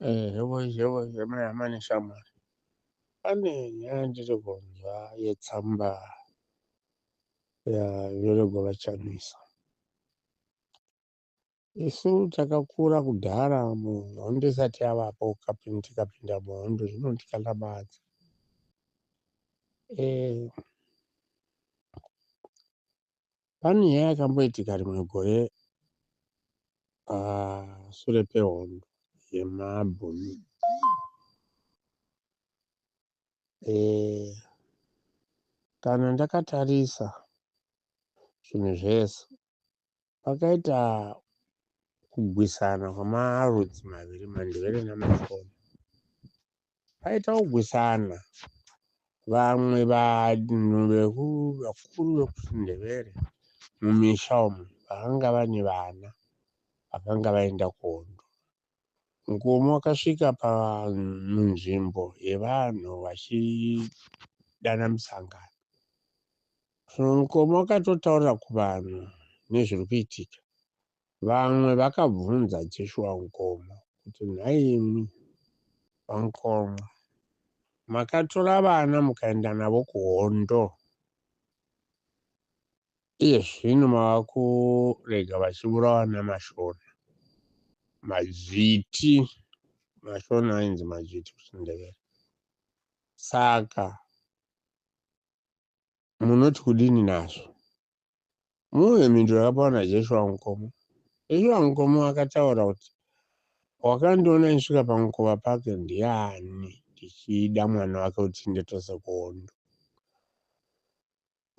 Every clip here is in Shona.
Eh, hebo hebo hema yamane shamwari. Pane nyaya ndiri kunzwa yetsamba yaverego vachamisa. Isu takakura kudhara muhondo isati yavapo kapinda tikapinda muhondo zvino tikanamadza. Eh, pane nyaya yakamboitika rimwe gore pasure ah, pehondo yemabhumi eh, kana ndakatarisa zvinhu zvese pakaita kugwisana kwemarudzi maviri mandevere namashona Paita kugwisana vamwe vanhu vakuru vekuchindevere mumisha umu vakanga vane vana vakanga vaenda kuhondo. Mukoma wakasvika pamunzvimbo yevanhu vachidana musangano. Mukoma wakatotaura kuvanhu nezviri kuitika Vamwe vakabvunza Jeshua Nkomo kuti, Nhaimi VaNkomo, makatora vana mukaenda navo kuhondo, iye zvino mava kurega vachiburawa namaShona, madzviti, maShona ainzi madzviti kuchiNdevere, saka munoti kudini nazvo? Muuye mhinduro yakapiwa naJeshua wamukomo. Jeshua wamukomo akataura kuti, Wakandiona ndisvika pamukova pake ndiani? Ndichida mwana wake kuti nditose kuhondo.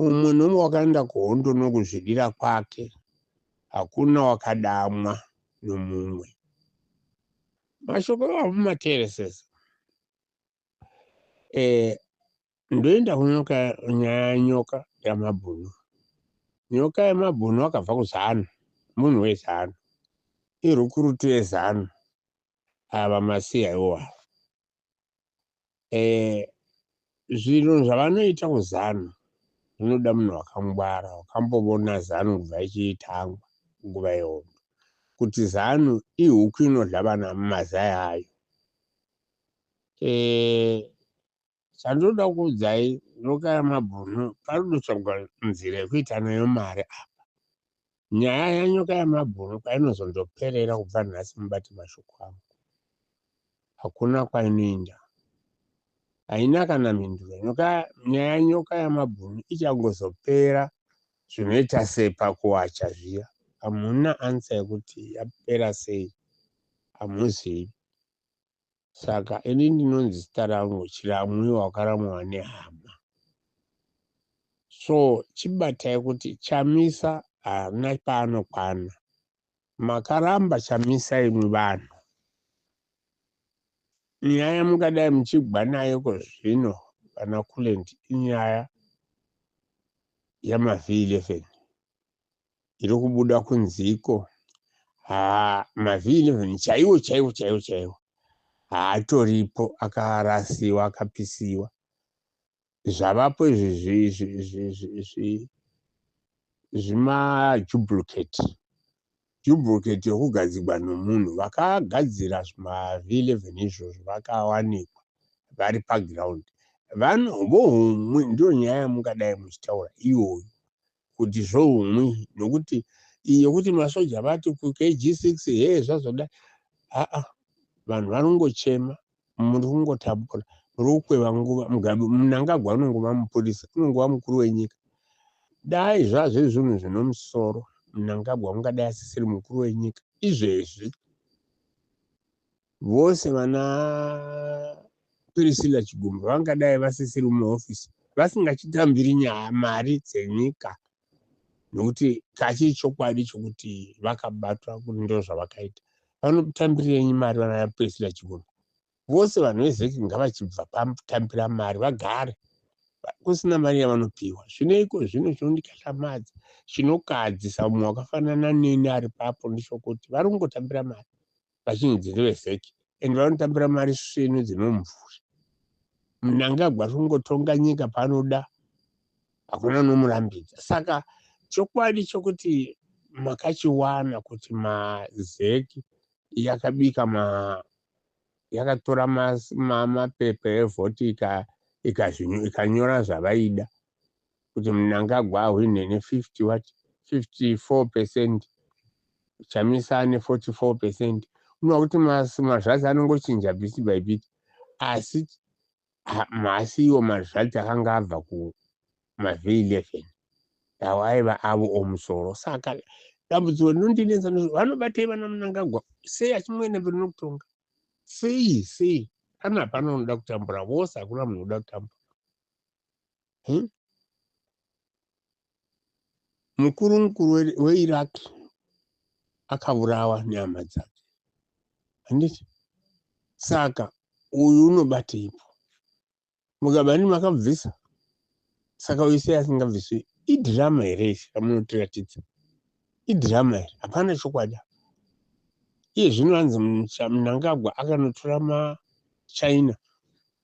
Umwe nomwe wakaenda kuhondo nokuzvidira kwake, hakuna wakadamwa nomumwe. Mashoko iwayo mumateeresesa. eh, ndoenda kunyoka nyaya yenyoka yamabhunu nyoka yemabhunu wakabva kuzanu munhu wezanu irukurutu yezanu ava masiya iwova eh, zvinhu zvavanoita kuzanu zvinoda munhu wakangwara wakambovona zanu kubva ichiitangwa nguva yehondo kuti zanu ihuku inodla vana mumazai ayo Eh, chandinoda kuudzai ndokaya mabhunu panodotsvagwa nzira yekuita nayo mari apa nyaya yanyoka yamabhunu kwainozondoperera kubva nhasi mubati mashoko angu hakuna kwainoenda haina kana mhinduro nyoka nyaya nyoka yamabhunu ichangozopera zvinoita sepakuwacha zviya hamuna ansa yekuti yapera sei hamuzivi Saka ini ndinonzi zita rangu Chiramwi wakaramwa nehama. So chibatai kuti Chamisa haana paanokwana. Makaramba Chamisa imwi vanhu. Nyaya yamungadai muchigwa nayo kozvino vana Kulent inyaya yamaV11. iri kubuda kunziko haa mavhii 11 chaiwo chaiwo chaiwo chaiwo haatoripo akarasiwa akapisiwa zvavapo izvi zvimajublucate jublucate yokugadzigwa nomunhu vakagadzira zvimavhii 11 izvozvo vakawanikwa vari paground vohumwe ndiyo nyaya yamungadai muchitaura iyoyo kuti zvohumwi nokuti iyo kuti masoja vati kukg6 hee zvazoda aa vanhu vanongochema muri kungotambura muri kukweva nguva mugabe munangagwa unongova mupurisa unongova mukuru wenyika dai zvazviri zvinhu zvino musoro munangagwa ungadai asisiri mukuru wenyika izvezvi Vose vana Priscilla Chigumbu vangadai vasisiri muhofisi vasingachitambiri nyaya mari dzenyika nokuti kachii chokwadi chokuti vakabatwa kuti ndo zvavakaita vanotambirirenyi mari vana Priscilla Chigumbu vose vanhu vezeki ngavachibva patambira mari vagare kusina mari yavanopiwa zvineiko zvino chinondikatlamadza chinokadzisa mumwe wakafanana neni ari papo ndichokuti vari kungotambira mari vachinzi dziri vevheki and vanotambira mari svinu dzemumvuri mnangagwa ari kungotonga nyika panoda hakuna unomurambidza saka chokwadi chokuti makachiwana kuti mazeki yakabika ma yakatora mapepa evhoti ikazvinyu ikanyora zvavaida kuti Mnangagwa ahwine ne 50 what 54 percent Chamisa ane 44 percent unoona kuti mazvadzi anongochinja bit by bit asi mhasi iwo mazvadzi akanga abva kumavhe 11 awo aiva avo omusoro saka dambudziko rinondinetsa vanobatei vana Mnangagwa sei achimwene mberi nokutonga sei sei kana hapana unoda kutambura vose hakuna munhu unoda kutambura hmm? mukuru mukuru weiraq akavurawa nehama dzake handiti saka uyu unobateipo mugabani makabvisa saka uyu sei asingabviswi idhirama here isi ramunotiratidza idhirama here hapana chokwadi iye zvino anzi mnangagwa akanotora machina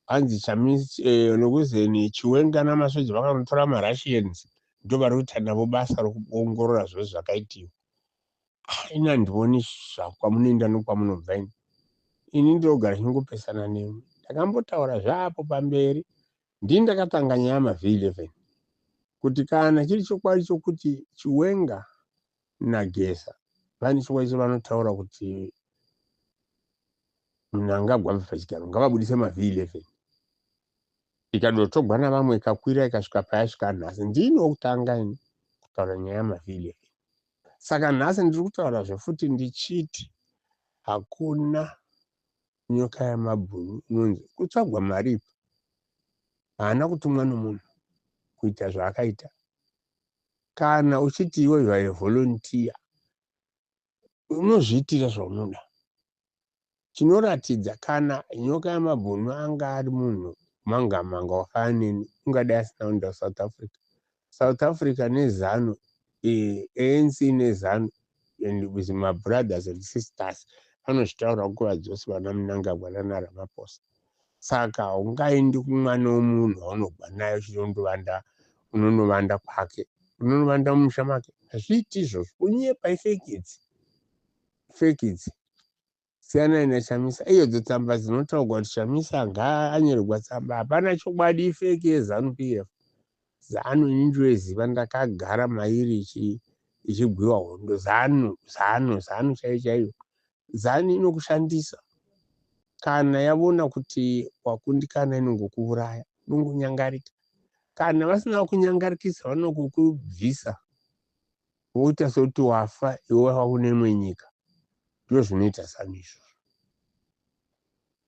Hanzi Chamisi eh, nokuzeni Chiwenga namasoja vakanotora maRussians ndovari kuita navo basa rokuongorora zvose zvakaitiwa. Ah, ini handioni zva kwamunoenda nokwamunobva ini. Ini ndinogara ndichingopesana nemi. Ndakambotaura zvaapo pamberi. Ndini ndakatanga nyaya yamavhii 11 kuti kana chiri chokwadi chokuti Chiwenga naGeza vane chikwaiso vanotaura kuti mnangagwa abve pachigaro ngavabudise mavhi 11 ikadotogwa navamwe ikakwira ikasvika payasvika nhasi ndini wokutanga ini kutaura nyaya yamavhi 11 saka nhasi ndiri kutaura zvefuti ndichiti hakuna nyoka yamabhunu inonzi kutsvagwa maripa haana kutumwa nomunhu kuita zvaakaita kana uchiti iwe you are a volunteer unozviitira zvaunoda chinoratidza kana nyoka yamabhunu anga ari munhu manga manga wakaya neni ungadai asina kuenda kusouth africa south africa nezanu eh, anc nezanu and with mabrothers and sisters anozvitaura nguva dzose vana munangagwa nanaramaposa Saka haungaendi kumwana wemunhu waunogwa naye uchiti unondovanda unonovanda kwake unonovanda mumusha make hazviiti izvozvo kunyepa ifeki idzi feki idzi siyanai nachamisa iyodzo tsamba dzinotaurwa kuti chamisa ngaanyorerwa tsamba hapana chokwadi ifeki yezanu p f zanu ini ndoeziva ndakagara mairi ichigwiwa hondo zanu zanu zanu chaiyo chaiyo zanu inokushandisa kana yavona kuti wakundikana inongokuvuraya inongonyangarika kana vasina kunyangarikisa vanokukubvisa woita sokuti wafa iwe wava kune imwe nyika ndo zvinoita zanu izvozvo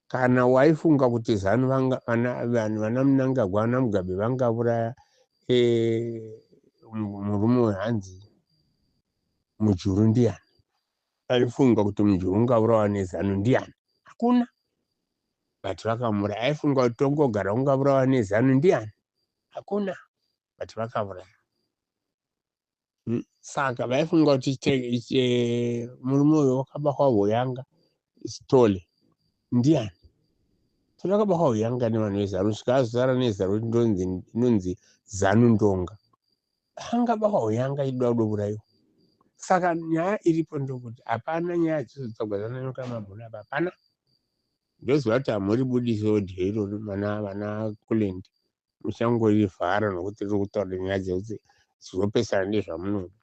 kana waifunga kuti zanu vana munangagwa vana mugabe vangavuraya eh, murume wehanzi mujuru ndiyani Aifunga kuti mnhu ungaurawa nezanu ndiani hakuna but vakamuraya aifunga kuti tongogara ungavurawa nezanu ndiani hakuna but vakavuraya hmm? saka vaifunga kuti eh, murume uyo wakabahwa voyanga stole ndiani tavakabahwa voyanga nevanhu vezanu svikazara nezanu kuti ndonzi zanu ndonga Anga baba uyo anga aida kudouraiwa. Saka nyaya iripo ndokuti hapana nyaya dzinozotsvagwa zvananyoka mabhoni apa hapana. Ndoziva kuti hamuri budisi audio irori vana vana Kulend muchangorivhara nokuti riri kutaura nyaya dzekuti zvinopesana nezvamunoda.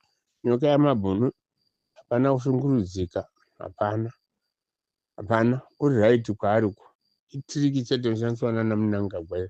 Nyoka yamabhunu hapana kushungurudzika hapana hapana uri right kwaari uko itiriki chete inoshandiswa nana munangagwa iyo